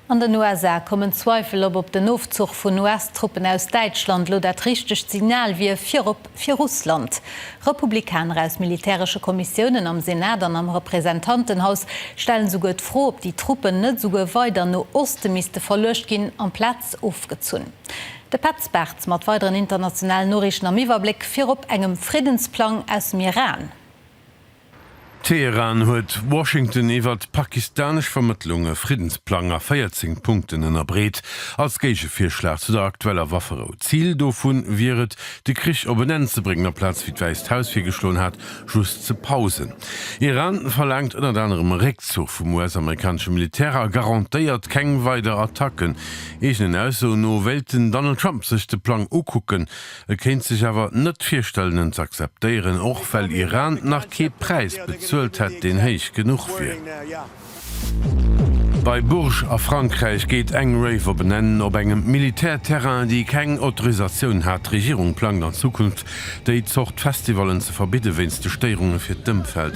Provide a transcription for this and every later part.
An den USA kommen Zweifel op, ob den Ofzuch vun US-Truppen aus Däitschland elo dat richtegt Signal wier, virop fir Russland. Republikaner aus militäresche Kommissiounen am Senat an am Representantenhaus stellen souguer d'Fro, ob déi Truppen net souguer weider no Oste misste verluecht ginn, amplaz ofgezunn. De Petz Bartz mat weideren internationalen Noriichten am Iwwerbléck, virop engem Friddensplang aus dem Iran. Teheran huet Washington iwwert pakistanesch Vermëttlung e Friddensplang a 14 Punkten ënnerbreet, als Géigevirschlag zu der aktueller Wafferou. Zil dovu wier et, de Krich op en Enn ze bréngen, amplaz, wéi d'Wäisst Haus virgeschloen hat, just ze pausen. Iran verlaangt ënnert anerem e Réckzuch vum US-amerikanesche Militär a garantéiert keng weider Attacken. Eegenen Aussoen no wéilt den Donald Trump sech de Plang ukucken. E kéint sech awer net virstellen en z'akzeptéieren, och well Iran nach kee Präis bezuelt hätt deen héich genuch wier. Bei Bourges a Frankräich geet eng Rave op en Enn, op engem Militärterrain déi keng Autorisatioun hat. D'Regierung plangt an Zukunft déi Zort Festivallen ze verbidde wéinst de Stéierunge fir d'Ëmfeld.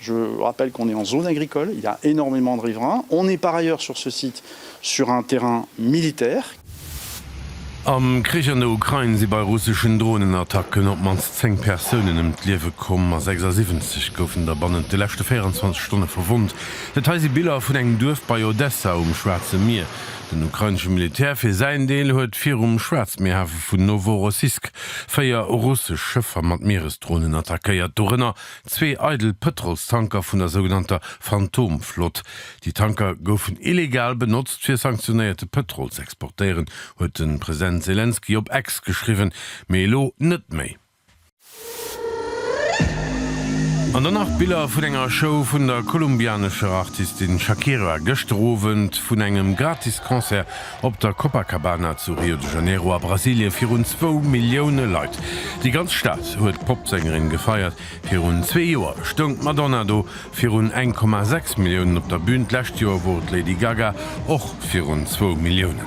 Je rappelle qu'on est en zone agricole, il y a énormément de riverains, on est par ailleurs sur ce site sur un terrain militaire. Am Krich an der Ukrain si bei russeschen Dronenattacken op d'mannst 10 Persounen ëm d'Liewe komm a 76 goufen der bannent de leschte 24 Stonne verwonnt. Dat hei si Biller vun engem Duerf bei Odessa um Schwaarze Mier. Den ukrainesche Militär fir säin Deel huet virum Schwaarzmierhafe vun Noworossisk véier russesch Schëffer mat Mieresdronen attackéiert, dorënner Zwee eidel Pëtrolstanker vun der sougenannter Phantomflott. Déi Tanker goufen illegal benotzt, fir sanktionéierte Pëtrol z'exportéieren, huet de President Selenskyj op Ex geschriwwen. Mee elo net méi. An dann nach Biller vun enger Show vun der kolumbianescher Artistin Shakira gëschter Owend, vun engem Gratis-Concert Op der Copacabana zu Rio de Janeiro a Brasilien virun zwou Millioune Leit. Déi ganz Stad huet d'Popsängerin gefeiert. Virun zwee Joer stoung d'Madonna do virun 1,6 Milliounen op der Bün. D'lescht Joer wor d'Lady Gaga och virun zwou Milliounen.